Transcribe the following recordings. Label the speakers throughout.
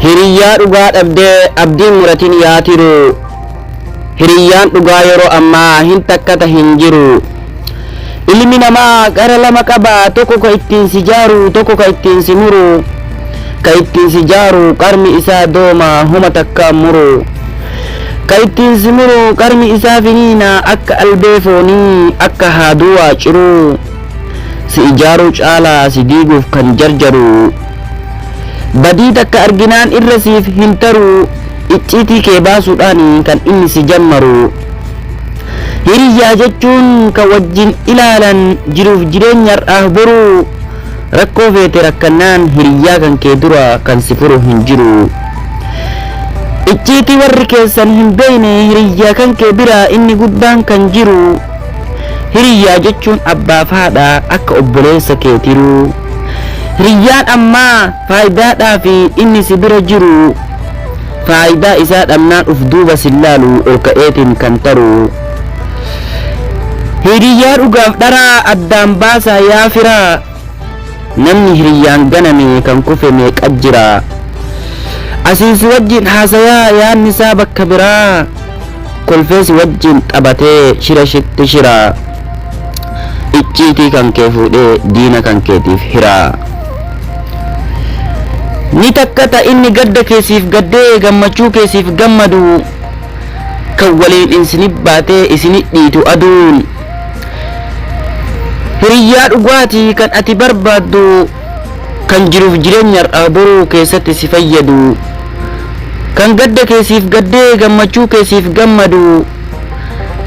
Speaker 1: Hiriyyaa dhugaa dhabdee abdiin muratin yaa tiruu hiriyyaan dhugaa yeroo ammaa hin takkata hin jiruu. Ilmi namaa gara lama qaba tokko ka ittiin si jaaru tokko ka ittiin si muru ka ittiin si jaaru qarmi isaa dooma homa takkaan muru ka ittiin si muru qarmi isaa finiina akka albee foonii akka haaduu waa ciruu si ijaaruu caalaa si diiguuf kan jarjaru Badii takka arginaan irra siif hin taruu icciitii kee baasuudhaan kan inni si jammaru. Hiriyyaa jechuun kan wajjin ilaalan jiruuf jireenya har'aaf boruu rakkoo feete rakkannaan hiriyyaa kan kee dura kan si furu hin jiru. Icciitii warri keessan hin beeyne hiriyyaa kan kee bira inni guddaan kan jiru. Hiriyyaa jechuun abbaaf haadha akka obboleessa keetiruu. Hiriyyaan ammaa faayidaadhaafi inni si bira jiru faayidaa isaa dhabnaan uf duuba sin laalu ol ka'eetiin kan taru. Hiriyyaa dhugaaf dharaa addaan baasaa yaa firaa. Namni hiriyyaan ganame kan kufe meeqa jira. Asiin si wajjin haasayaa yaadni isaa bakka biraa. Kolfee si wajjin taphatee shira shitti shira. icciitii kan kee fuudhee diina kan keetiif hiraa. Ni takka ta inni gadda kee siif gaddee gammachuu kee siif gammadu kan waliin isini baatee isini dhiitu aduun. Hiriyyaa dhugaati kan ati barbaaddu kan jiruuf jireenya har'aa boruu keessatti si fayyadu kan gadda kee siif gaddee gammachuu kee siif gammadu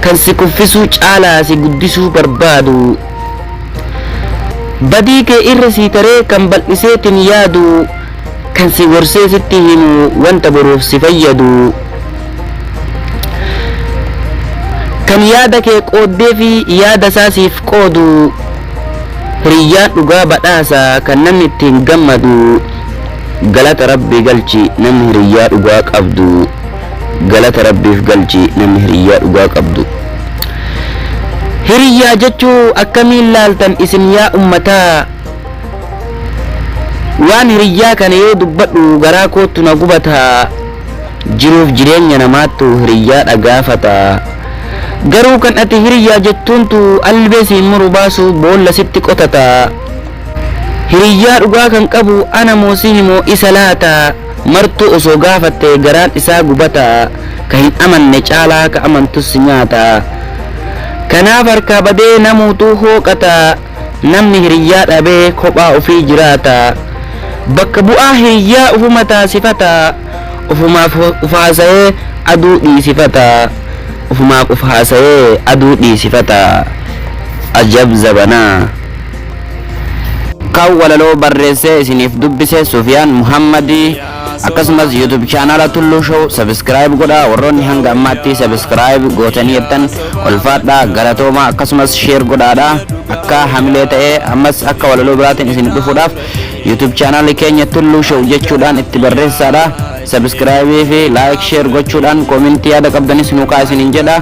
Speaker 1: kan si kuffisuu caalaa si guddisuu barbaadu badii kee irra sii taree kan bal'iseetiin yaadu kan si gorsee sitti himu wanta boruuf si fayyadu kan yaada kee qooddee fi yaada isaa siif qoodu hiriyyaan dhugaa badhaasa kan namni ittiin gammadu galata rabbi galchi namni hiriyyaa dhugaa qabdu. Galata rabbiif galchi namni hiriyyaa dhugaa qabdu. Hiriyyaa jechuu akkamiin laaltan isin yaa ummataa waan hiriyyaa kana yoo dubbadhu garaa koottu na gubata jiruuf jireenya namaattu hiriyyaadha gaafata garuu kan ati hiriyyaa jettuuntu albee siin muru baasu boolla sitti qotata Hiriyyaa dhugaa kan qabu ana moo sihi moo isa laata martuu osoo gaafatte garaan isaa gubata ka hin amanne caalaa ka amantus si nyaata kanaaf harkaa badee namuutuu hooqata namni hiriyyaa dhabee kophaa ofii jiraata bakka bu'aa hiriyyaa ufuma taasifata ufumaaf uf haasayee aduu dhiisifata ufumaaf uf haasayee aduu dhiisifata ajab zabanaa. Kan walaloo barreessee isiniif dubbise Sufiyaan Muhammadi. Akkasumas YouTube chaanaala Tulluu Show subscribe godhaa warroonni hanga ammaatti subscribe gootanii jettan ulfaadhaa galatoomaa akkasumas share godhaadha akka hamilee ta'ee ammas akka walaloo biraatiin isin dhufuudhaaf YouTube chaanaala keenya Tulluu Show jechuudhaan itti barreessaadha subscribe fi like share gochuudhaan koomentii yaada qabdanis nuukaa isiniin jedha